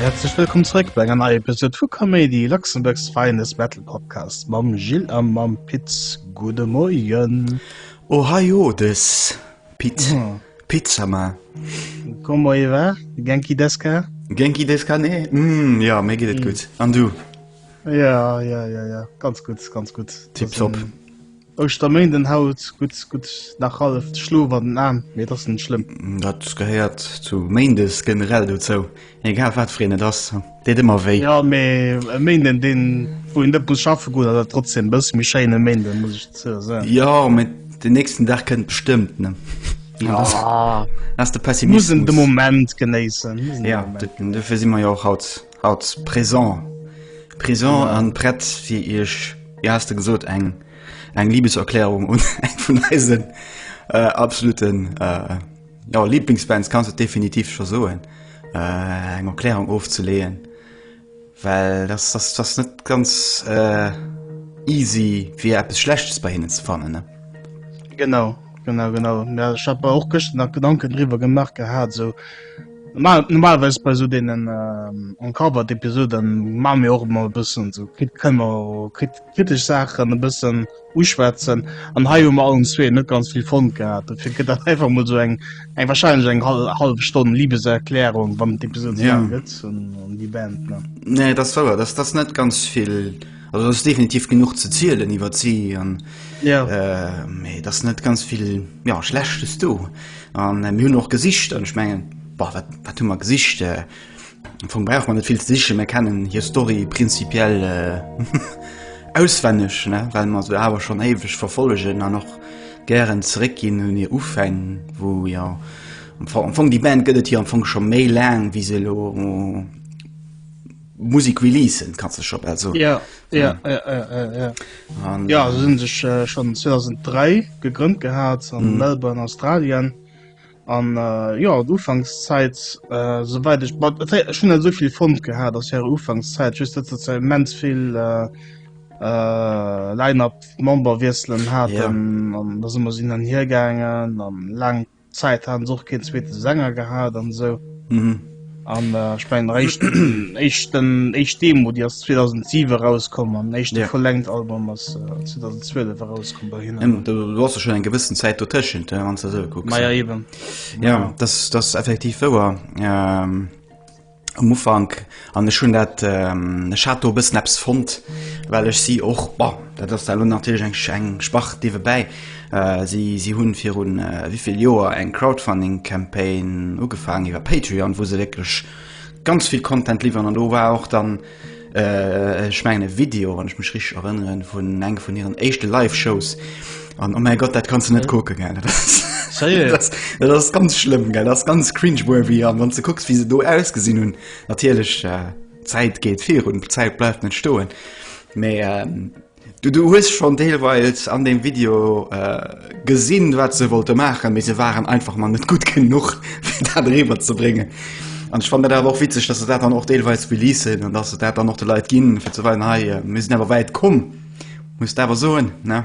Herzlech wëllkomm zréck bei enger neier Episode vu Comedy Luxemburgs Feines Battle Podcast mam Gilles a mam Piz Gude Moien. Ohio des. Piz Pizza ma. Como e va? Genki des ka? Genki des ka ne? Mm, ja, mé geet et mm. gutt. An du? Ja, ja, ja, ja. ganz gutt, ganz gutt. Tipp top. Ähm, Ech der méint den Haut gut gut nach half Schlo wat den Aen méi dat den schlimm. Mm, dat gehéiert zu Méindes generell dozou. Egal wat fir een et ass, et deet ëmmer wéi. Jo, mee e Méinden, deen, wou een net muss schaffe goen, ass awer trotzdem e bësse méi schéin, e Méinden, muss ech dozou soen. Jo, mee den nächsten Dag kënnt bestëmmt, ne? Jo, ass de Pessimismus. Muss een de Moment genéissen. Ja, dofir si mer jo och haut haut présent. Présent a prett, fir iech, wéi has de gesot, eng eng Liebeserklärung un eng vun eisen äh, absoluten äh, Jo, Lieblingsbands kanns et definitiv scho soen, äh, eng Erklärung ofzeleeën, well dass dass dass net ganz äh, easy fir eppes Schlechtes bei hinnen ze fannen, ne? Genau, genau, genau. Mä ech hat mer och gëscht nach Gedanken driwwer gemaach gehat, esou normal normalerweis bei esou deenen äh, Uncovered-Episoden maache mir och emmer e bëssen esou krit kënne mer krit kritesch Saachen e bëssen. uschwätzen an hei hu mer allen zwee net ganz vill fonnt gehat, dofir gëtt dat einfach mol esou eng eng wahrscheinlech eng hallef Stonn Libeserklärung, wann et eppes un ze soen gëtt un déi Band. Nee, et ass wouer, dass dass net ganz vill, also et ass definitiv genuch ze zielen iwwert si, mee et ass net ganz vill Schlechtes do an mir hunn och gesicht an ech mengen, wat hu mer gesicht? Am Fong brauch man net vill ze sichen, mir kennen hir Story prinzipiell auswenneg, well mer se awer schonn éiweg verfollegen an och gären zeréckginn un hir Ufäng, wou jo am Fong déi Band gëtt et jo am Fong scho méi laang wéi se elo Musek releasen, et kann sech scho bal soen. Ja, ja, ja, ja, se hunn sech schonn 2003 gegrënnt gehat an Melbourne, Australien. An jo an Ufankszäit souwäit ech mat ech hunn net esou vill fonnt gehat ass hire Ufankszäit just dat se immens vill Line-Up Memberwiesselen haten an da si mer esou hin an hiergaangen an laang Zäit haten se och keen zweete Sänger gehat an esou. An ech mengen der éischt éischt den éischt Demo déi ass 2007 erauskomm an den éischte Ja. Full-Length Album ass äh, 2012 erauskomm bei hinnen. Ëm, du du ass jo schonn eng gewëssen Zäit dotëschent, hä, wann s de esou kucks. Ma ja eben. Ja, dass dass ass effektiv wouer. Ähm, um Ufank, an ech hunn dat, ähm, ech hat do e bëssen eppes fonnt, well ech si och, bon, dat ass da elo natierlech eng eng Sparte niewebäi, Si hunn viru wivill Joer eng Crowdfunding Campaign ugefaangen iwwer Patreon, wou se wierklech ganz vill Content liwweren an do war och dann ech mengen e Video, wann ech mech richteg erënneren, vun eng vun hiren éischte Live Shows an oh mäi Gott, dat kanns de net kucken, gell, dat ass Sérieux? Dat, dat ass ganz schlëmm, gell, dat ass ganz cringeworthy an wann s de kucks wéi se do ausgesinn hunn, natierlech d'Zäit geet virun, d'Zäit bleift net stoen, mee. Du du hues schon deelweils an dem Video gesinn wat se wollte maachen, mee se waren einfach mal net gutt genuch fir dat eriwwer ze bréngen. An ech fannen dat awer och witzeg, dass se dat dann och deelweils releasen an dass se dat dann och de Leit ginn fir ze weisen, hei mir sinn awer wäit komm, muss de awer soen ne.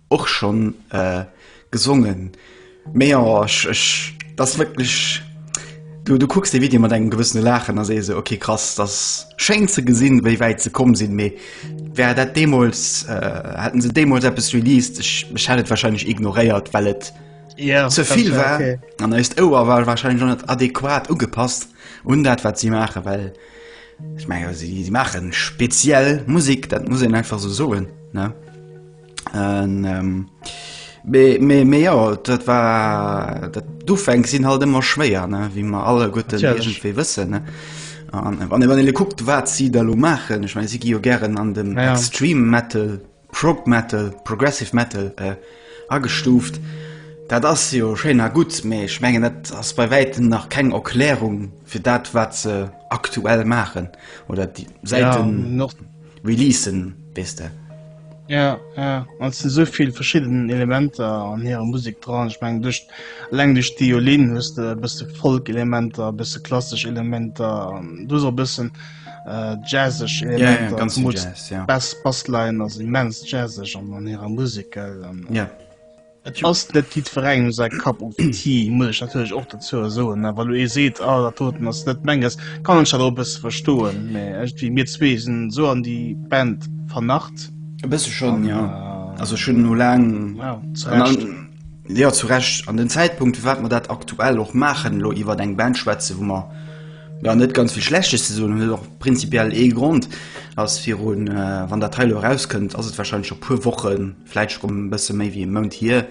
Och schon gesongen mee jo ech dass wierklech du du kucks de Video mat engem gewëssene Laachen a sees ok krass dass schéin ze gesinn wéi wäit se komm sinn mee wär dat deemols hätten se deemols eppes released ech ech hätt et wahrscheinlech ignoréiert well et zevill war an eist Ouer war wahrscheinlech net adequat ugepasst un dat wat si maache well ech menge si maachen speziell Musek dat muss een einfach sou soen ne. An, ähm, mee, mee, mee jo, dat war, dat, d'Ufäng sinn halt ëmmer schwéier, ne, wéi mer alleguerten Natierlech. iergendwéi wëssen, ne. An, äh, wann ee, wann ee lo kuckt, wat si da lo maachen, ech meine, si gi jo gären an dem Ja, ja. Extreme Metal, Prog Metal, Progressive Metal, äh, agestuuft. Dat ass jo schéin a gutt, mee ech mengen, dat ass bei wäitem nach keng Erklärung fir dat, wat se aktuell maachen oder déi Ja, säiten, an och, Releasen, weess de. Jo, jo, an et sinn esou vill verschidden Elementer an hirer Musek dran. Ech mengen, duerch, eleng duerch d'Eolinn hues de e bësse Folk-Elementer, e bësse klassesch Elementer an du hues och e bëssen äh, jazzeg Elementer. Ja, ja, ganz Jazz, ja. Bass, Bassline ass immens jazzeg an, an hirer Musek, gell? An, ja. Et ass net jiddwerengem säi Cup of tea, muss ech natierlech och dozou soen. Wa lo ee seet, ah dat doten ass net menges, kann ech dat och e bësse verstoen, mä iergendwéi, mir zwee sinn esou an déi Band vernarrt. E bësse schonn, jo. Also ech hunn elo laang, jo, zu Recht, an den Zäitpunkt, firwat mer dat aktuell och maachen, elo iwwer eng Band schwätzen, wou mer, jo, net ganz vill Schlechtes ze soen hunn, huet och prinzipiell ee Grond, ass virun, wann dat hei elo erauskënnt, ass et warscheinlech scho puer Wochen, vläit scho e bësse méi wéi e Mount hier,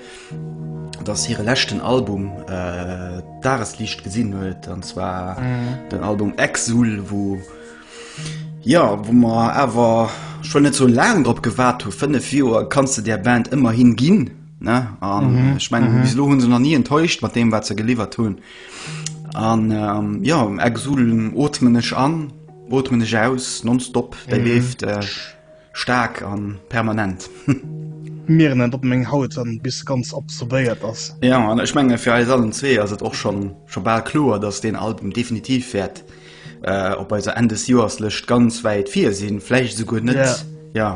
datt hire leschten Album d'Dagesliicht gesinn huet, an zwar den Album Exul, wou, jo, wou mer awer scho net sou laang drop gewaart hu. Fënnef Joer kanns de där Band ëmmerhin ginn, ne? An ech mengen, bis elo hu se nach ni enttäuscht mat deem, wat se geliwwert hunn. An, jo, Exul ootmen ech an, ootmen ech aus, nonstop, dat leeft. Staark an permanent. Mieren en op meng Haut an bis se ganz absorbéiert ass. Jo an ech mengen fir eis allen zwee ass et och schon schon bal kloer dass deen Album definitiv wäert op eiser Enn des Joers Lëscht ganz wäit vir sinn, vläicht esouguer net jo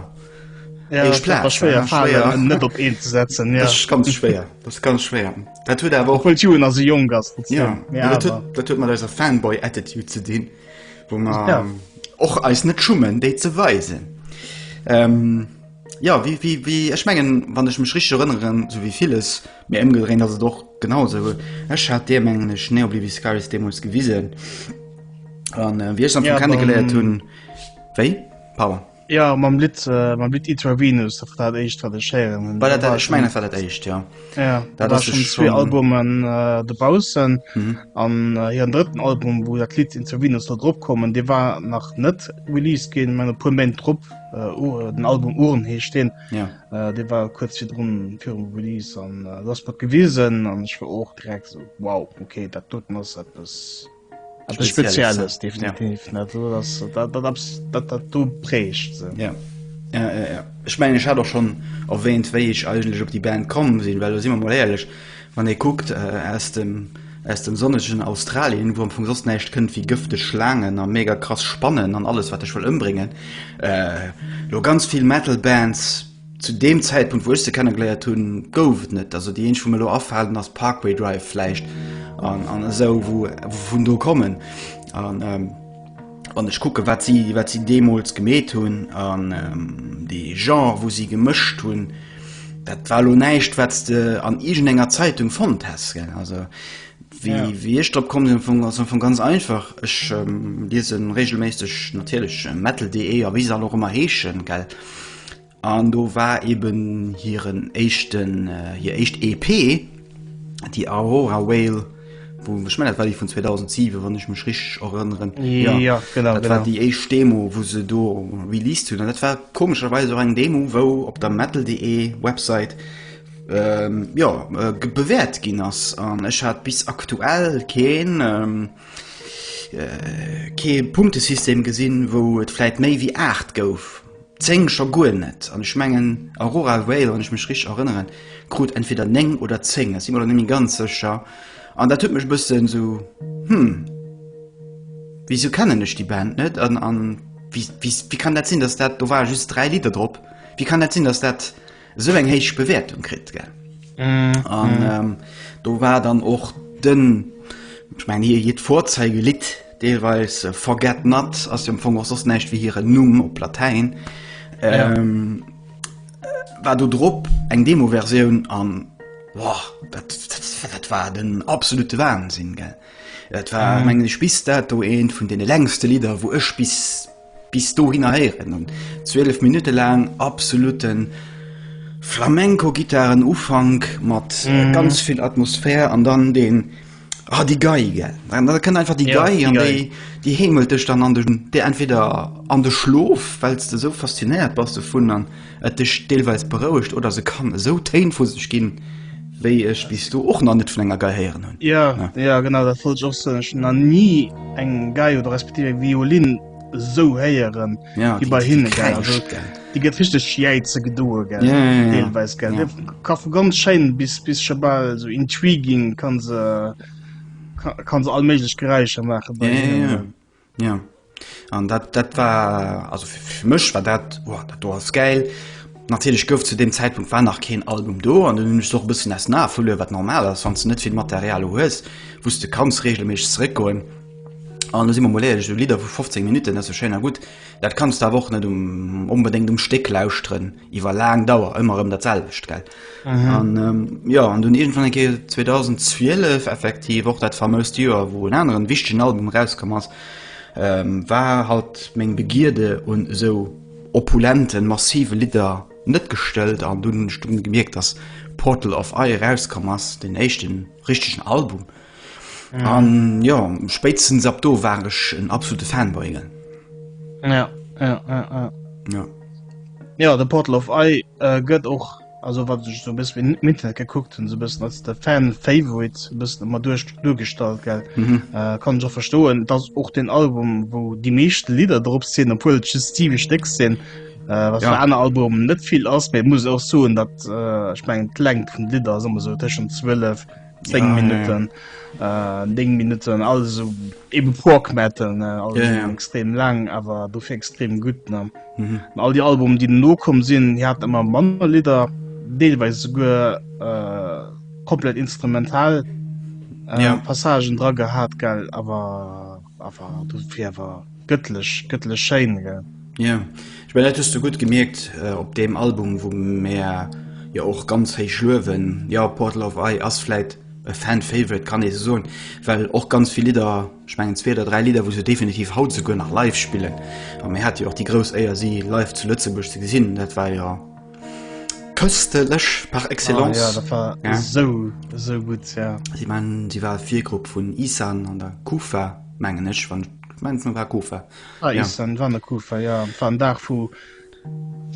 éischt Plaz. Ass schwéier schwéier en net op een ze setzen. Jo ass ganz schwéier ass ganz schwéier. Dat huet awer och obwuel d'Jugend nach esou jonk ass. Jo dat huet mat eiser Fanboy Attitude ze dinn. Wo man ja. och eis net schummen déi ze weisen. Ähm, ja wie, wie, wie ech mengen wann ech mech rich erënneren so wie vieles mir ëmgedrehen dat se doch genauso Ech hat Dir mengen ech ne oblivi Scaris Demos gewisen an äh, wie ech am ja, kennen geleiert hunn. Wéi? Pardon. Jo mam Lidd mam Lidd Intravenous dat war dat éischt wat ech héieren hunn. War dat dat ech mengen dat war dat éischt ja. Ja dat war ass schon zwee schon- Albumen äh, dobaussen Mhm. an äh, hiren drëtten Album wou dat Lied Intravenous do drop kommen dee war nach net released ginn man e puer Méint drop äh, Ur- den Album Uhren heescht deen Ja. äh, dee war kuerz virdrun virum Release an äh, dat ass mat gewisen an ech war och direkt esou wow okay dat doten ass eppes Etwas Spezielles, definitiv. Ja. Also, das, das, das, das, das, du prägst sie. Ja. Ja, ja, ja. Ich meine, ich hatte auch schon erwähnt, wie ich eigentlich auf die Band gekommen bin, weil, sind wir mal ehrlich, wenn ihr guckt, äh, aus dem, aus dem sonnigen Australien, wo am Anfang sonst nichts könnt, wie gifte Schlangen und mega krass Spannen und alles, was ich will umbringen, äh, nur ganz viel Metal-Bands, Zu deem Zäitpunkt, wou ech se kennengeléiert hunn, gouf et net. Also déi eenzeg, wou mir elo afalen, ass Parkway Drive vläicht an, an esou, wou vun do kommen. An ähm, wann ech kucke wat si, wat si deemools gemeet hunn an ähm, de Genre, wou si gemëscht hunn, dat war lo näischt, wat s de an iergendenger Zeitung fonnt häss. Also wéi, ja. wéi ech drop komm sinn, ass vu ganz einfach. Ech ähm, liesen regelméisseg natierlech äh, metal.de a wéi se all och ëmmer heeschen, gell. An do war eben hiren éischten, hir éischt EP, déi Aurora Whale, wou, ech mengen dat war déi vun 2007, wann ech mech richteg erënneren. Jo, genau, genau. Dat war déi éischt Demo, wou se do released hunn. An dat war komescherweis och eng Demo, wou op der metal.de Website, jo, bewäert ginn ass. An ech hat bis aktuell keen. kee Punktesystem gesinn, wou et vläit méi wéi 8 gouf, 10 scho guer net. An ech mengen Aurora Vale, wann ech mech richteg erënneren, krut entweder 9 oder 10, ech si mer elo net méi ganz sécher. An dat huet mech e bëssen esou, hm, wisou kennen ech déi Band net? An, an wéi kann dat sinn, datt dat, do ware just 3 Lidder drop, wéi kann dat sinn, datt dat. esou eng héich Bewäertung kritt gell an do war dann och den ech mein hir hiert Vorzeigelit deelweis Forget Not ass jo am Fong och soss näischt wéi hiren Numm op Latäin war do drop eng Demoversioun an dat war den absolute Wahnsinn gell dat war mengen ech bis dato eent vun deene längste Lidder wou ech bis Bis dohinner héieren un 12 Minutte laang absolute Flamenco-Gittaren Ufank mat ganz vill Atmosphär an dann deen, ah déi Gei, gell, an da kënnt einfach déi Gei an déi déi heemelt dech dann an de entweder an de Schlof, well s de sou faszinéiert bass dovun an, et dech deelweis berouegt oder se kann esou Téin vu sech ginn, wéi ech bis do och nach net vun enger Gei héieren hunn. Jo, jo genau dat wollt ech och soen. Ech hunn nach ni eng Gei oder respektiv eng Violinn esou héieren wéi bei hinne. Déi gëtt richteg jäize gedoe deelweis. Ka vu ganz schéin bis bis scho bal esou intriguing ka se all méiglech Geräischer maachen. Jo an dat dat war also fir mech war dat oh, dat do ass geil. Natierlech gouf zu dem Zäitpunkt war nach keen Album do an hunn ech och bëssen ass na verluer wat normal ass, wann du net vill Material hues, wou de kanns reegelméisseg zeréckgoen. An do si mer mol éierlech, esou Lidder vu 15 Minutten, dat ass jo schéin a gutt, dat kanns de awer och net um onbedéngt um Stéck lauschteren. iwwer laang Dauer ëmmer ëm dat selwecht gell. Mhm. An ähm, ja an dun irgendwann enke 2012 effektiv och dat famoust Joer, wou en aneren wichtegen Album rauskom ass, ähm, war halt meng Begierde un esou opulenten, massive Lidder net gestëllt an dun hunn ech dunn gemierkt, dass Portal of Eye rauskomm ass, den éischten richtegen Album An jo, spéitstens ab do war ech en absolute Fanboy. Ja, ja, ja, ja. ja. ja de Portal of Ei äh, gëtt och also wat sech so bis wien mit gekuckt hun so bis als der Fan favorite bis immer duerch durchgestalt gell mhm. äh, kann jo verstoen dass och den Album wo die meescht Lieder drop sinn obwohl Steve Steck sinn äh, was ja. an Album net viel ass muss auch so dat äh, ich mein klenk vun Lider so tschen 12 10 ja, Minuten ja. Äh, 10 Minuten also eben Porkmetten äh, also ja, ja. extrem lang aber du für extrem gut ne mhm. all die Alben die no kommen sind hier hat immer Mann Lider deelweise sogar äh, komplett instrumental äh, ja. Passagen dran gehabt geil aber Awer du fir awer gëttlech gëttlech schéin gell. Ja ech mein dat hues du gutt gemierkt äh, op deem Album wou mär jo och ganz héich luewen. Jo Portal of Eye ass vläit e Fan Favorite kann ee se soen, well och ganz vill Lidder ech mengen zwee oder dräi Lidder wou se definitiv haut souguer nach live spillen. A mir hate jo och déi grouss Éier si live zu Lëtzebuerg ze gesinn, dat war jo Köstelech par excellence. Oh ja, dat war ja. esou esou gutt ja. Si man si war Virgrupp vun Isan an der Kufa mengen ech wann mens war Kufa. Ah, ja. Isan wann der Kufa ja war en Dag vu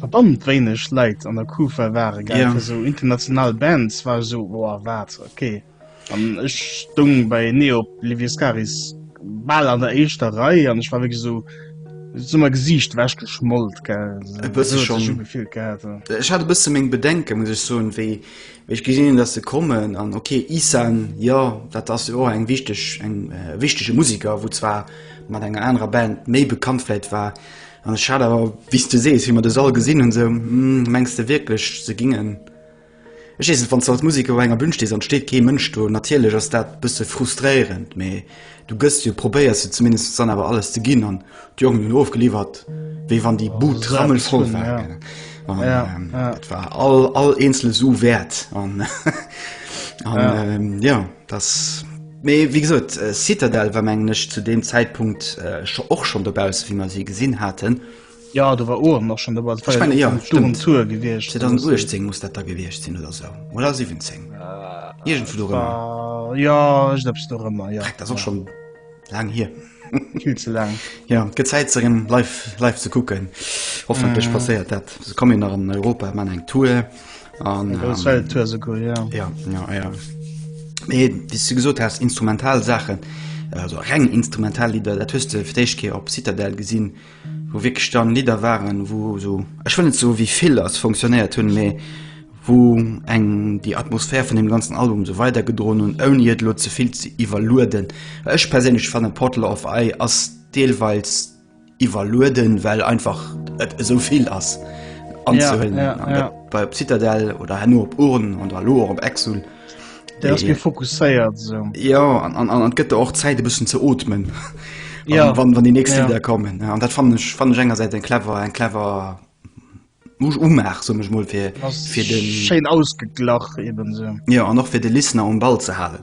verdammt wéineg Leit an der Kufa waren gell ja. fir esou international Bands war esou boah wat okay. An ech stung bei Neo Liviescaris bal an der éischter Rei an ech war wéi so summer Gesiicht wäsch geschmollt ge gefilt gehabt. Ech hat e bësse meng Bedenke muss ech soen, wéi ech gesinn hunn, datt se kommen an okay Ihsan jo dat ass jo och eng wichteg eng wichtege Musiker, wou zwar mat enger anerer Band méi bekannt vläit war an ech hat awer wéi s de sees wéi mer de Sall gesinn hunn sou, mengs de wierklech se gingen Ech weess net, wann s de als Museker u enger Bün stees an et steet kee Mënsch do, natierlech ass dat e bësse frustréierend, mee du gëss jo, probéiers jo zumindest dann awer alles ze ginn an d'Jongen hunn ofgeliwwert wéi wann déi Bud rammelvoll war. Dat war all eenzele Su wäert an jo, dass, mee wéi gesot, Citadelle war mengen ech zu deem Zäitpunkt och schonn dobausse wéi mer si gesinn haten. Ja do war Ohren och schon dobäi. Dat war Ich meine, ja, um stimmt. Tour gewiescht. 2018 muss dat da gewiescht sinn oder sou. Oder 17. Iergendwu do rëmmer. Ah, ja, ech glaub do rëmmer, ja. Dreck, dat ass och schon laang hier. Viel ze lang. Ja, et gëtt Zäit ze rem live, live ze kucken. Hoffentlech Mhm. passéiert dat. Se kommen nach an Europa, man eng Tour. An, Gros ähm, Welttour sogar, ja. Ja, ja, ja. Mee, wie du gesot hast, instrumental Sachen, also reng instrumental Lieder, dat hues du fir d'éischt Keer op Citadel gesinn, wou wierklech dann Lidder waren, wou esou, ech wëll net soe wéi vill ass, fonctionnéiert hunn, mee wou eng déi Atmosphär vun deem ganzen Album esou weidergedroen hunn, ouni et elo ze vill ze iwwerlueden. Well ech perséinlech fannen, Portal of Eye ass deelweils iwwerlueden, well einfach et esou vill ass anzehuelen. An dat bei op Citadel oder herno op Urne oder elo och op Exul. Der ass mir fokusséiert so. Ja an, an, an gëtt och Zäit e bëssen ze otmen. Ja wann wann die nächste ja. Lieder kommen. An dat fan ech fan enger seit en clever en clever muss umach so mech mol fir fir de Schein ausgeglach eben se. Ja an noch fir de Liner um Ball ze halen.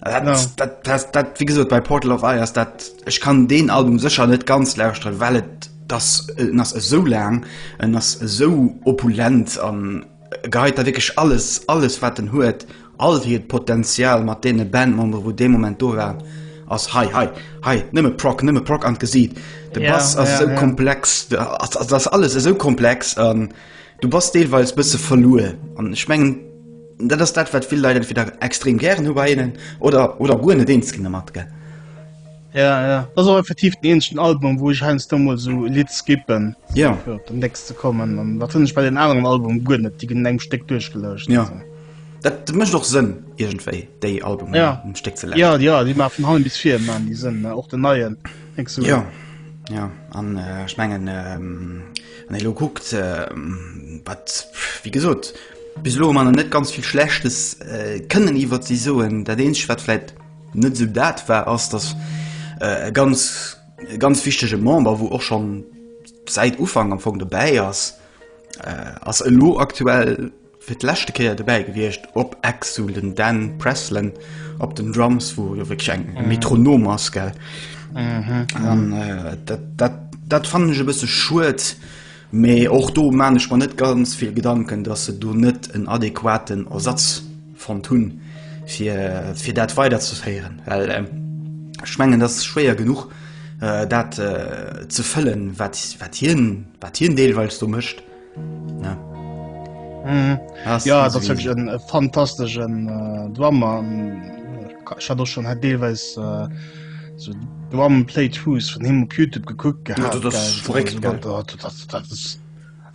Dat, no. dat, dat, dat wie gesot bei Portal of Eiers dat ech kann den Album secher net ganz lausren wellt das äh, ass esou lang en ass esou opulent an Geheit da wierklech alles, alles wat en huet, all hiert Potenzial mat deene Bandmembere wou dee Moment do waren, ass hei, hei, hei, nëmme Prog, nëmme Prog an d'Gesiit. De Bass ass esou komplex, et ass alles esou komplex an du bass deelweis bësse verluer an ech mengen dat ass dat wat vill Leit entweder extrem gären hu bei hinnen oder oder guer net eens ginn domat, gell. Ja, ja. Das war effektiv den enschen Album, wo ich heinz du mal so Lied skippen. Ja. So, den nächsten zu kommen. Und da finde ich bei den anderen Album gut nicht. Die gehen in einem Stück durchgelöscht. Ja. So. Dat mecht och Sënn irgendwéi déi Album ja. um Steck ze ja, ja, Di ma vun Hallem bis fir man die Sënn och den neien so. ja. ja. an äh, schmengen ähm, an lo guckt äh, wat wie gesot bis lo man net ganz viel schlechtes äh, kënnen iwwer ze soen dat deen schwatläit Net esou dat war ass, dass e ganz e ganz wichtege Member, wou och schonn säit Ufank am Fong dobäi ass, ass elo aktuell fir d'leschte Kéier dobäi gewiescht op Exul, den Dan Preslan op den Drums, wou jo wierklech eng e Metronom ass, gell. An dat, dat, dat fannen ech e bësse schued, Mee och do maan ech mer net ganz vill Gedanken, dass se do net en adequaten Ersatz fonnt hun fir dat weider ze féieren, well ech mengen dass et schwéier genuch dat ze fëllen wat hien deelweils do mécht. Jo ass wierklech en fantasteschen Drummer, ech hat och schon deelweis So Drum Plate Who's vun him op Youtube gekuckt gehaat. Ja, dat ass verréckt, gell. Dat, dat, dat ass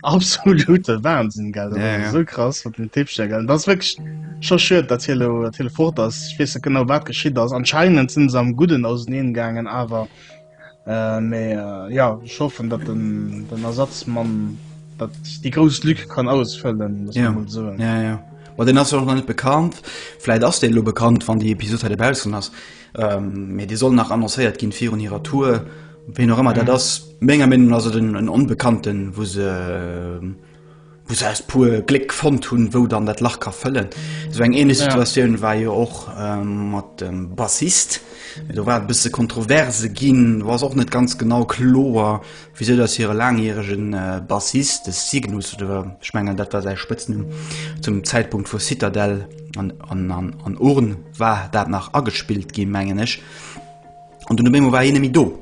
absolute Wahnsinn, gell. Dat Ja, ass ja. esou krass mat dem Tippchen, gell. Dat ass wierklech scho schued, dat hie lo, dat hie lo fort ass. Ech weess net genau wat geschitt ass. Anscheinend sinn se am Gudden auseneen gaangen, awer äh, mee äh, ja, ech hoffen, dat den, den Ersatzmann dat déi grouss Lück kann ausfëllen, muss Ja. man mol soen. Ja, ja. Ma den ass jo och nach net bekannt. Vläit ass dee lo bekannt, wann déi Episod hei dobaussen ass. Mee déi soll nach annoncéiert ginn virun hirer Tour. Ween och ëmmer dat ass, menger Meenung no ass et en Onbekannten, wou se wou se aus puer Gléck fonnt hunn, wou dann dat Lach ka fëllen. Esou eng ähnlech Situatioun war jo och mat dem Bassist. Do war et e bësse kontroverse ginn, do ass och net ganz genau kloer, Wisou dass hire laangjärege Bassist, de Cygnus, oder ech mengen dat war säi Spëtznumm, zum Zäitpunkt vu Citadel an Urn war dat nach agespillt gi mengen ech, an dunn op eemol war hien net méi do,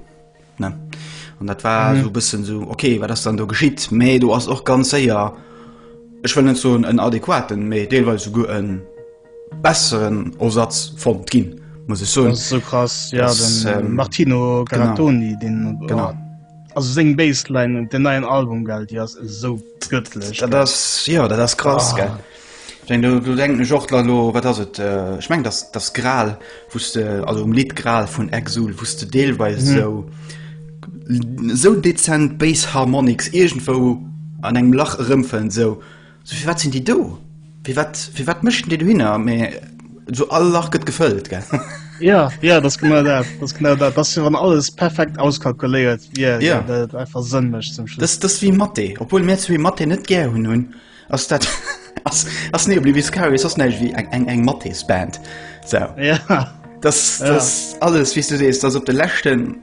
ne? An dat war esou e bëssen esou, ok, wat ass dann do geschitt? Mee do ass och ganz séier, ech wëll net soen en adequaten, mee deelweis esouguer en. besseren Osatz fonnt ginn, muss ech soen. Dat ass esou krass, ja, Das, den äh, ähm, Martino genau. Gerattoni, den, oh, Genau. also seng Bassline und den neien Album, gell, déi ass esou göttlech. Dat ass, ja, dat ass krass, Ah. gell. Ich mein, du, du denk mech och la lo, wat ass et, äh, ich meng, das, das Gral, wou's de, also um Lied Gral vun Exul, wou's de deelweis so, so dezent Bass Harmonics irgendwou an engem Lach erëmfënn, so, So firwat sinn déi do? Firwat firwat méchten déi dohinner? Mee so all Lach gëtt gefëllt, gell? Ja, ja das genau dat das genau dat das wann alles perfekt auskalkuléiert yeah, ja yeah. einfach sënn mech zum Schluss. Das, das wie Matte obwohl mir zwee Matte net ger hunn hunn ass dat ass, ass nebli wie Scarry ass neich wie eng eng eng Mattesband so. ja. das, das ja. alles wie du sees das op de lächten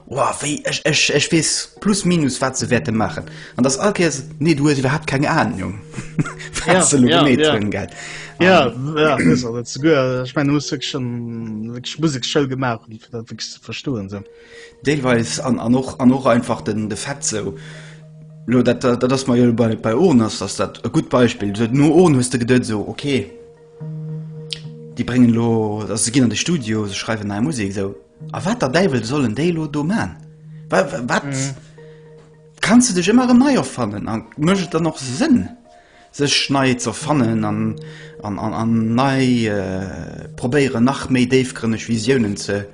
Woah, wéi, ech, ech, ech weess plus minus, wat se wäerte maachen. An dass all Kéiers, nee, du hues iwwerhaupt keng Ahnung, Ja, wat se lo ja, gemeet ja. hunn, gell. Ja, An, ja, dat ass also zu guer. Ech mengen, du muss wierklech schon wierklech Musekschoul gemaach hunn, fir dat wierklech ze verstoen esou. deelweis, an, an och, an och einfach den, de Fait sou, lo, dat, dat, dat ass mer jo lo bei, bei Ohren ass, ass dat e gutt Beispill. So, no Ohren hues de geduet esou, okay, déi bréngen lo, also se ginn an de Studio, se schreiwen nei Musek, esou. A wat der Däiwel sollen déi elo do man? Wa, wa, wat? Kanns de dech ëmmer erëm nei erfannen? A mécht et dann och Sënn, sech nei ze erfannen an, an, an, an nei, probéieren nach méi déifgrënneg Visiounen ze,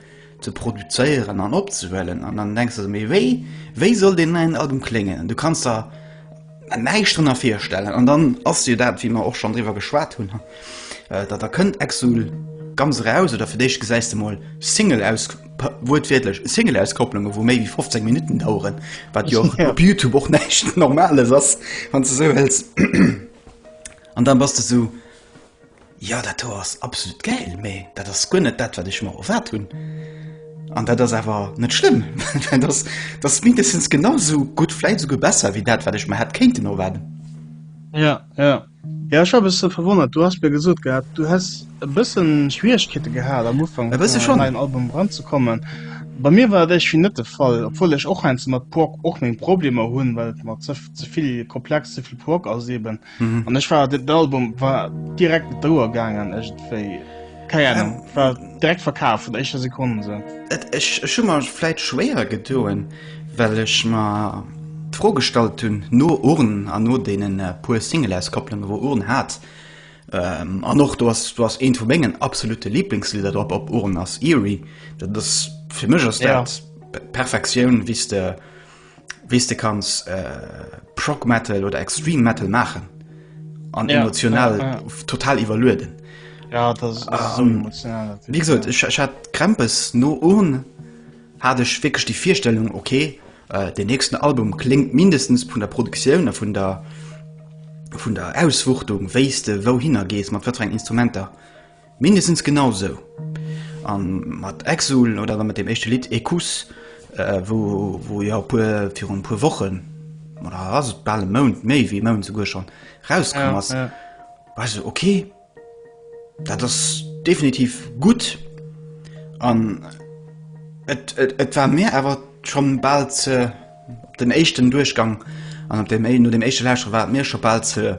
ze produzéieren an opzehuelen? An dann denks de, mee wéi, wéi soll deen neien Album kléngen? An du kanns der. näischt drënner virstellen. An dann ass jo dat, wéi mer och schonn driwwer geschwat hunn, datt da kënnt Exul ganz eraus, oder fir d'éischt gesäis de mol Single aus, wuertwiertlech, Single-Auskopplunge wou méi wéi 15 Minutten daueren, wat jo op Youtube och näischt Normales ass, wann s de esou wëlls. An da bass de esou, Jo, dat do ass absolut gäil, mee dat ass guer net dat, wat ech mer erwaart hunn. An dat ass awer net schlëmm, well dat ass, dat ass mindestens genau esou gutt, vläit esouguer besser wéi dat, wat ech mer hätt kéinten erwaarden. Jo, jo. Jo, ech war e bësse verwonnert. Du has mir gesot gehat, du häss e bësse Schwieregkeete gehat am Ufank, E bësse schonn. an däin Album eranzekommen. Bei mir war dat éischvi net de Fall, obwuel ech och heiansdo mat Prog och meng Problemer hunn, well et mer ze, ze vill komplex, ze vill Prog ass eeben. an ech war den Album war direkt mat der Uhr gaangen égentwéi kei Ahnung ähm, war direkt verkaf vun der éischter Sekonde se. Et ech ech hu mer vläit schwéier gedoen, well ech mer d'Fro gestallt hunn no Urn an no deenen äh, puer Single-Auskopplungen, wou Urn hat. Ähm, an och du ass du ass eent vu mengen absolute Lieblingslieder drop op Urn ass Eerie. Dat ass fir mech ass Ja. dat Perfektioun, wéi s de wéi s de kanns äh, Prog Metal oder Extreme Metal maachen an ja, emotional ja, ja. total iwwerlueden. Ja, das, das um, ähm, so wie gesagt, ja. ich, ich hat Krempes no un hatte ich wirklich die Vierstellung okay äh, den nächsten Album klingt mindestens von der Produktion von der von der Auswuchtung weste wohin er gehst man verrängt Instrumenter Mindestens genau sou. An mat Exul oder dann mat dem éischte Lidd Ecus, wou jo virun e puer Wochen, oder ass et bal e Mount, méi wéi e Mount souguer schonn, rauskomm ass, war ech esou, ok, dat ass definitiv gutt. An et war mir awer schonn bal ze. Op den éischten Duerchgang an op dem, no dem éischte Lauschteren war et mir scho bal ze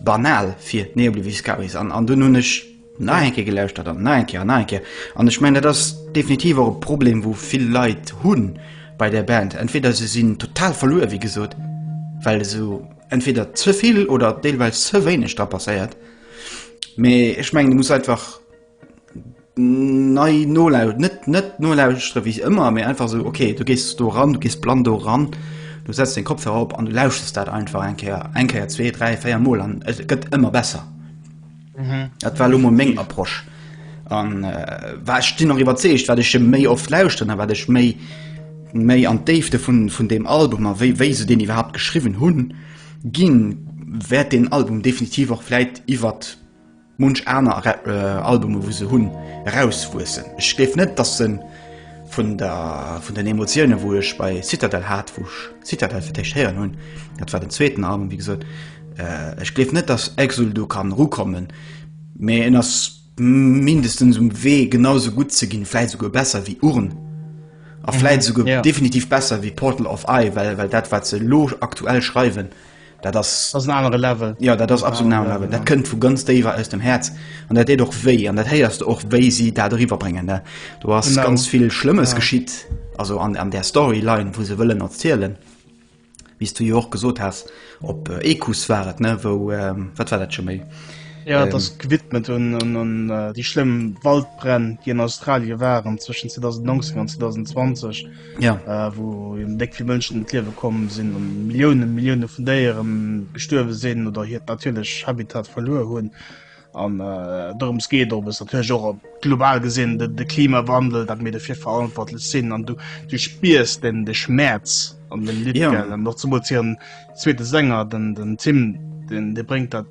banal fir Neobliviscaris. An, an dunn hunn ech nach eng Kéier gelauschtert an nach eng Kéier an nach eng Kéier. An ech mengen, dat ass definitiv och e Problem, wou vill Leit hunn bei där Band. Entweder se sinn total verluer, wéi gesot, well esou entweder ze vill oder deelweis ze wéineg dra passéiert. Mee ech mengen, et muss einfach. nei nolaus net net nolauschtere wéi ëmmer méi einfach so okay du gehst do ran du gehst plan do ran du setzt den Kopf herop an du lausches dat einfach enkeier enkeier 2 3 4 mol an et gëtt ëmmer besser mhm. dat war mo meng approche an äh, war stinn noch iwwerzeecht wat ech méi oft lauschten a wat ech méi méi an d'Déifte vun vun dem Album a wéi wéi se den iwwerhaupt geschriwwen hunn ginn wäert den Album definitiv och fläit iwwert munch aner Albume wou se hunn erauswuessen. Ech géif net datt se vun der vun den Emotioune wou ech bei Citadel hat, wou ech Citadel fir d'éischt héieren hunn, dat war den zweeten Album wéi gesot, ech gleef net datt Exul do kann erukommen, mee en ass mindestens um Wee genau sou gutt ze ginn, vläit souguer besser wéi Urn a vläit souguer definitiv besser wéi Portal of Eye, well well dat wat se elo aktuell schreiwen, Dat ass, dat ass en anere Level. Jo, dat ass absolut en anere Level. Dat kënnt vu ganz déiwer aus dem Häerz an dat deet och wéi. An dat héiers de och, wéi si dat eriwwer bréngen, ne? Do ass ganz vill Schlëmmes geschitt, also an, an där Storyline, wou se wëllen erzielen, wéi s du jo och gesot has. Op Equus war et, ne, wou, wat war dat scho méi? Jo, dat ass gewidmet un, un, un déi schlëmm Waldbränn, déi an Australie waren zwëschen 2019 an 2020. ja. äh, wo déck vill Mënschen d'Liewe kommen sinn an Millioune Millioune vun Déieren gestuerwe sinn oder hiert natierlech Habitat verluer hunn. An äh, dorums geet op es natürlich och op global gesinn de, de Klimawandel, dat mir defir verantwortlech sinn an du, du spiers den de Schmerz an den Lidgel ja. noch zu motieren zweete Sänger den, den Tim den de bringt dat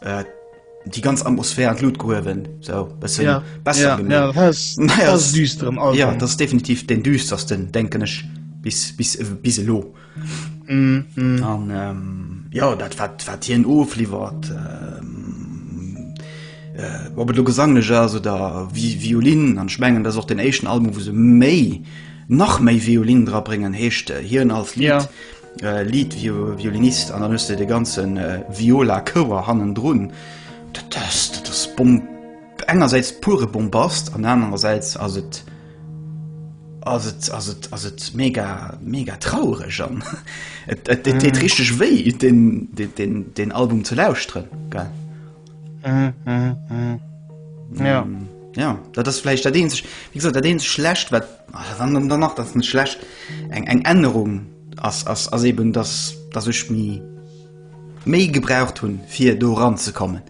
Äh, die ganz Atmosphär an Lut gehowen so besser ja. ja, ja, das, naja, das, düsteren, ja, das ist definitiv den düstersten denken ich bis bis bis lo mm, mm. Und, ähm, ja dat wat wat hier en ofliefert ähm, äh, ob du gesang also da wie violin an schmengen das auch den echten album wo se méi nach méi violin dra bringen hechte äh, hier als lied ja. Lead Violinist an dann hues de de ganze Viola Chouer hannendrun. Dat ass, dat ass Bomb, engersäits pure Bombast an anerersäits ass et, ass et, ass et, ass et mega, mega traureg an et deet richteg wéi, deen, deen, deen Album ze lauschteren, gell. Ja. Ja, dat ass vläicht dat eenzeg, wéi gesot, dat eenzeg schlecht, wat an dann nach dat net schlecht eng eng Ännerung ass ass ass eben dass dass ech mi méi gebraucht hunn fir do ranzekommen.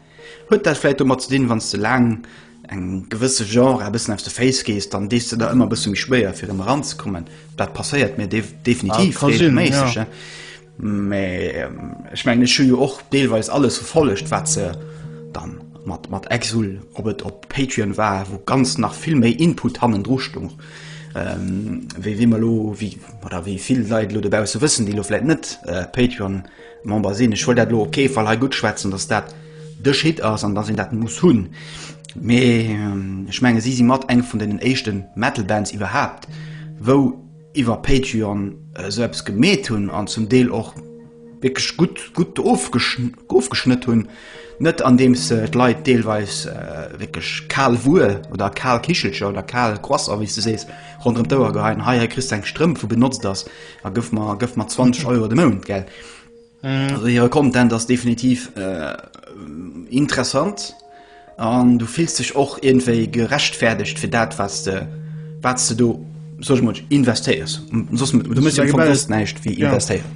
Huet dat vläicht domat ze dinn, wann s de laang eng gewësse Genre a bëssen aus de Féiss gees, dann dees de der ëmmer bësse méi schwéier fir ëm eranzekommen. Dat passéiert mir def definitiv regelméisseg, ja. Mä ech mengen, ech hu jo och deelweis alles verfollegt, wat se da mat mat Exul, ob et op Patreon war, wou ganz nach vill méi Input hannendru stoung, wéi wéi mer elo wéi oder wéi vill Leit elo dobausse wëssen, déi elo vläit net Patreon-Member sinn. Ech wollt dat elo op kee Fall hei guttschwätzen, datt dat de Schritt ass an datt een dat muss hunn. Mee ech menge si si mat eng vun deenen éischte Metal-Bands iwwerhaapt, wou, iwwer Patreon esou eppes gemeet hunn an zum Deel och wierklech gutt, gutt ofgeschnëtt hunn, net andeems se d'Leit deelweis wierklech kal Wuer oder kal Kichelcher oder kal Croissant, wéi s de sees, ronderëm d'Ouer geheien, hei, hei kriss de eng Strëmp, wou benotzt ass a gëff mer, gëff mer 20 Euro de Mount, gell. Also hire Content ass definitiv äh, interessant an du fills dech och irgendwéi gerechtfäerdegt fir dat was de wat du do soch mod investéiers sos du muss ja Geld, näischt wie ja. investéieren.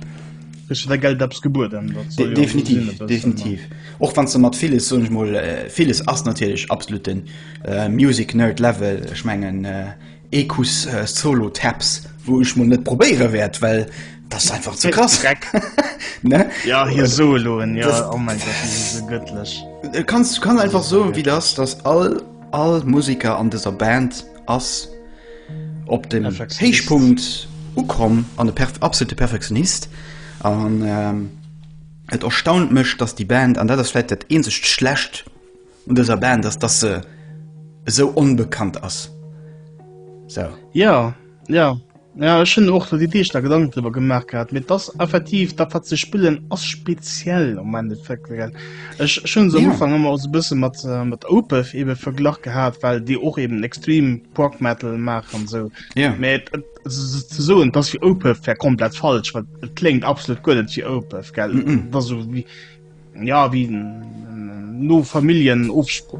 Der Geld abs gebuer De definitiv ja definitiv och wann ze mat vieles so mo äh, vieles ass natierlech absoluten äh, Music nerd Level schmengen äh, Ekus Solo Taps wou ech mol net probéiere wärt, well das einfach ze krass dreck ne ja hier soloen ja das, oh mein Gott, das ist so göttlich äh, kannst du kann einfach so wie das das all all Musiker an dieser Band ass op den Heichpunkt ukom an der perf absolute perfektionist an ähm, et erstaunt mech dass die Band an der das vielleicht dat ähnlich schlecht Un dëser Band ass, dass se esou onbekannt ass. Sou. Jo, jo. Jo, ech hunn och do déi Deeg da Gedanken driwwer gemaach gehat, mee et ass effektiv, dat wat se spillen ass speziell am Endeffekt. Ech hunn se am Ufank ëmmer esou e bësse mat mat Opeth ebe verglach gehat, well déi och eben extrem Prog Metal maachen an sou. Jo. Mee et et se ze soen, dass fir Opeth wär komplett falsch, well et kléngt absolut guer net wéi Opeth, gell? Et ass esou wéi Ja wéi no Familljen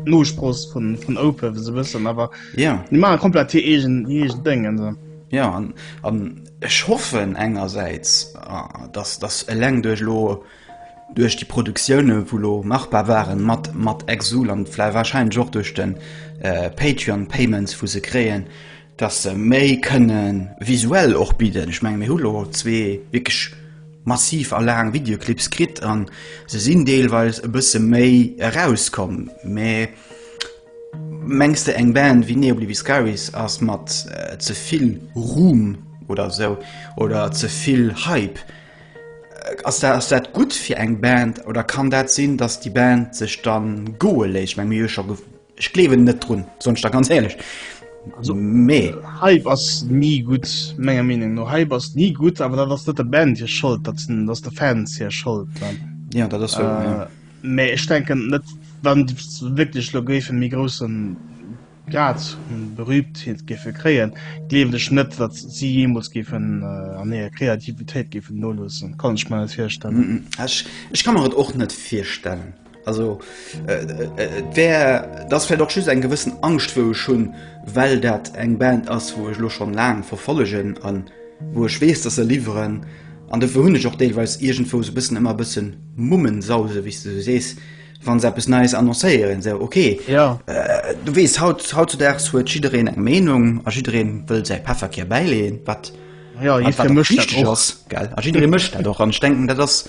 Nospross vun Ope se wëssen awer ja Di ma komplett hir eegen hir eegen Déng an se. Ja an an ech hoffen engersäits datt datt eleng duerch lo duerch déi Produktioune wou lo machbar waren mat mat Exul an vläi warscheinlech och duerch de Patreon Payments wou se kréien dass se méi kënne visuell och bidden. Ech menge mir hu lo zwee wierklech massiv a laang Videoclips kritt an se sinn deelweis e bësse méi erauskomm, mä mengs de eng Band wéi Neobliviscaris ass mat ze vill Ruhm oder esou oder ze vill Hype, ass dat ass dat gutt fir eng Band oder kann dat sinn, dass déi Band sech dann goe léisst? Ech menge mir hu jo scho Ech gleewen net drun, soen ech der ganz éierlech. Also, mee. Hype ass ni gutt, menger Meenung no. Hype ass ni gutt, awer dat ass net der Band hir Schold, dat sinn, dat ass de Fans hir Schold dann. Ja, dat ass wouer, ja. Mee ech denken net, wann se wierklech elo géifen e méi grousse Grad un Berühmtheet géife kréien, gleewen ech net, datt si jeemools géifen an hirer Kreativitéit géifen noloossen. Kann ech mer net virstellen. Ech, ech ka mer et och net virstellen. Also äh, äh, et wär dass fir doch just eng gewëssen Angst wou ech hunn, well dat eng Band ass, wou ech lo schon laang verfollegen an wou ech weess, dat se liwweren an de hunn ech och deelweis iergendwou se bëssen ëmmer bëssen Mummen sause wéi du sees wann se bis nees annoncéieren se okay ja. äh, du wees haut haut zu dags huet jidereen eng Meenung a jidereen wëll sei Pefferkehr beileen wat ja, jidereen mëcht dat och an denken dat ass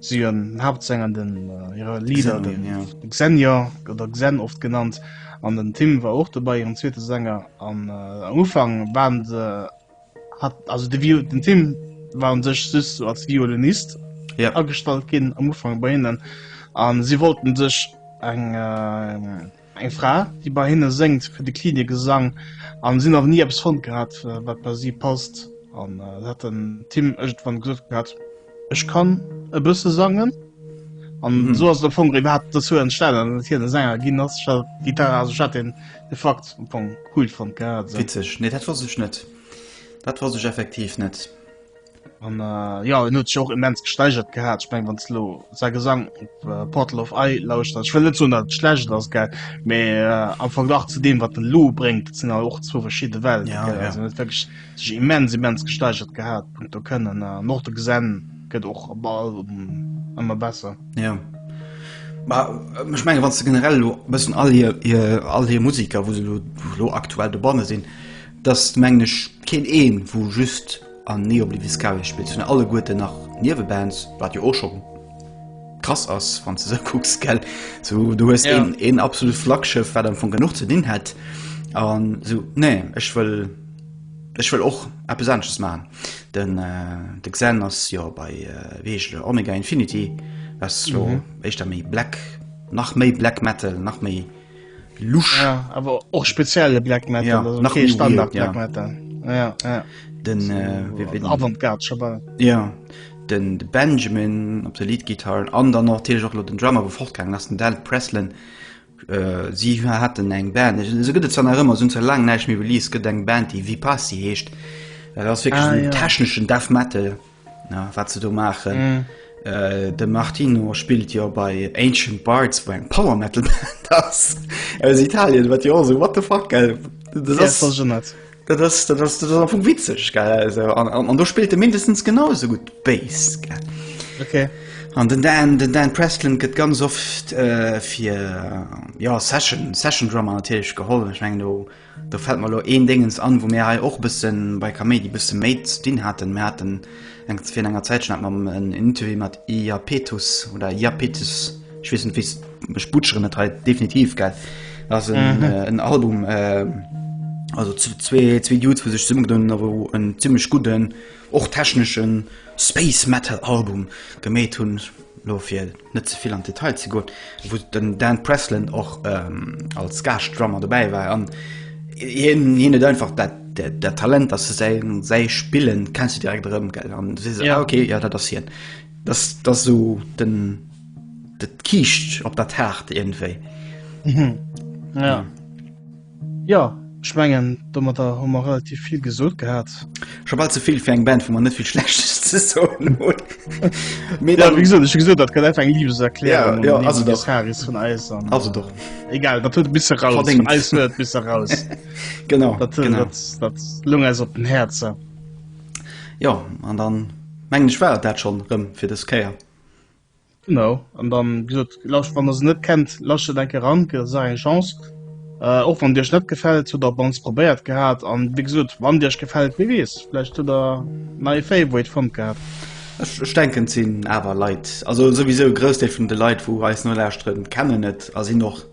Si en Haaptsänger an den hire Lieder de Xenia oder Xen oft genannt, an den Tim war och dobäi, hiren zweete Sänger. An am Ufank waren se hat also de Vio den Tim war un sech just sou als Violinist agestallt ginn am Ufank bei hinnen, a si wollten sech eng. Eng Fra, déi bei hinne séngt, kritt e Clinic e Sang an si hunn awer ni eppes fonnt gehat, wat bei si passt. An et hat den Tim iergendwann gesot gehat, Ech kann e bësse sangen. An esou ass et am Fong iwwerhaapt dozou entstanen, datt et hien e Sänger ginn ass. Ech hat d'Gitarre, also ech hat deen de Fakt am Fong cool fonnt gehat. Witzeg, nee, dat wosst ech net. Dat wosst ech effektiv net. An äh, ja, en huet sech och immens gesteigert gehat. Ich meng wann lo sa Gesang op äh, Portal of I lauscht ich will net so dat schlecht ass ge me äh, am Verglach zu dem wat den Lou bringt sinn all och zwo verschiedene Welt ja, ja. wirklich sich immens immens gesteigert gehabt Punkt du können äh, noch de gesinn gëtt och op ball ëmmer besser ja. Äh, ich meng wann du generell lo bessen all hier, hier all hier Musiker wo se lo, lo aktuell de bonne sinn das mengglisch kind een wo just An Neo Obliviscaris spillt vun alleguerten nach Niewebands, wat jo och scho krass ass, wann s de esou kucks, gell? Sou, du hues ja. een, een absolut Flaggschëff, wat am Fong genuch ze dinn hätt. An sou, nee, ech wëll ech wëll och eppes anesches machen. Den, äh, de Xen ass jo bei, äh, wéi heescht der, Omega Infinity, was jo mhm. éischter méi Black, nach méi Black Metal, nach méi Lusch ja, awer och spezielle Black Metal ja, also, nach okay, Standard Black ja. Metal ja, ja. Den, so, äh, den Avantgard Schabar. Ja den de Benjamin op der Liedgitarren an dann noch Tele lo den Drammer wo fortgang ass den Dal Preslen äh, si hat den eng Band se gëtt zan ëmmer sinn ze lang neich mir Release gët eng Band déi wie pass si heescht ass fir ah, ja. techneschen Def Metal Na, wat se do maachen. Mm. Äh, de Martino spilt jo bei Ancient Bards wou eng Power Metal Band ass aus Italien, wat jo se wat de fuck gell net. Dat ass dat ass dat ass vum witzeg gell also, an, an, an do spilt de mindestens genauso gut Bas gell. Okay. An den Dan den Dan Preston gëtt ganz oft äh, fir ja Session Session Drummer nahich geholl. Ech meng do. Do fällt mer elo een Déngens an, wou mir hei och e bësse bei Kaméidi bësse méi ze dinn haten. Mir haten eng, virun enger Zäitchen hate mer en Interview mat Iapetus oder Iapetus, ech weess net, wéi s, ech butscheren et hei definitiv, gell. Dat ass en Album, also zwee, zwee Dudes, wou sech zesummegedunn hunn a wou en zimmlech gudden Och techneschen Space Metal Album gemeet hunn, elo fir net ze vill an d'Detail ze goen, wou den Dan Presland och als Gaascht Drummer dobäi war an hien hien huet einfach dat dat Talent, dass de säi säi Spillen kenns de direkt erëm gell an du sees ah ok jo dat ass hien, dass dass esou den dat kiischt op der Taart iergendwéi. Jo, ech mengen domatter hu mer relativ vill gesot gehat. Scho bal ze vill fir eng Band wou mer net vill schlechtes ze soen hunn. Mee dann. Ja, wéi gesot, ech hu gesot dat gëtt einfach eng Libeserklärung un den Dee Harris vun eis an. Also do. Egal, dat huet bis eraus vun eis huet bis eraus. Genau, genau. Dat loung eis op den Häerzer. Jo, an dann mengen ech war et dat schonn erëm fir dës Kéier. Genau an dann wéi gesot lauscht wann der se net kennt lauscht der enke ran, gëtt der Saach eng Chance äh, och wann dir ech net gefält hutt der op mannst probéiert gehat an wéi gesot wann dir ech gefält wee weess vläicht hutt der nei Favorite fonnt gehat. Ech ech denken et sinn awer Leit also souwisou e Groussdeel vun de Leit wou eis nolauschteren kennen et a sinn och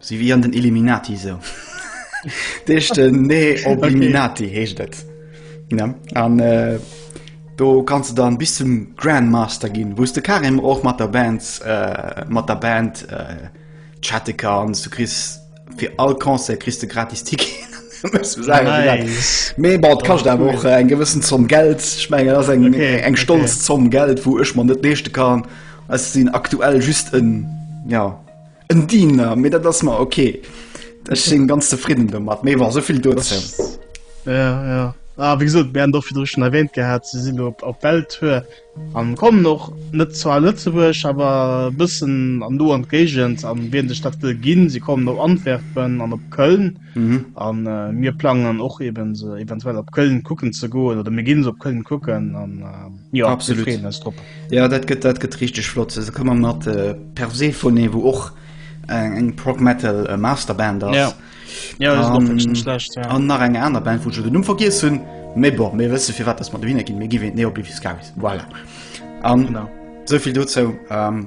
Si wéi an den Illuminati sou. D'echte Neobiminati heescht et. Ja. An äh, do kannst du dann bis zum Grandmaster ginn, wous de Karim och mat der Band äh, mat der Band äh, chatte kanns. Du kriss fir all Concert kriss du gratis Ticketen. Muss man sagen, wie dat- Nice. Mee bon, et kascht awer och äh, eng gewëssen Zomm Geld. Ech mengen dat ass eng Okay, eng stolz okay. Zomm Geld, wou ech mer net leeschte kann. Ech sinn aktuell just en, ja, En Diener, mee dat ass mer okay. Ech sinn ganz zefridden domat, mee war sovill do. Ja, ja. Ah, wie gesagt, wir haben doch wieder schon erwähnt gehabt, sie sind auf, auf Beltür und kommen noch nicht zu Lützeburg, aber ein bisschen an du an Gegend, an wen die Stadt will gehen. Sie kommen auf Antwerpen und auf Köln. Mhm. An äh, mir plangen och eben se eventuell op Köln kucken ze goen oder mir ginn se op Köln kucken an äh, ja, Absolut. Ja dat gëtt dat gëtt richtig flott. Se kann man mat äh, Persephone wo och eng äh, eng Prog Metal äh, Masterband ass. Ja. Ja, um, schlecht, ja. An nach eng aner Band vu den Numm vergiess hunn méi bo mé wësse fir wat ass mat Wiener ginn mé giwe neoblifiskavis. Voilà. An sovill dozou. Um, ähm,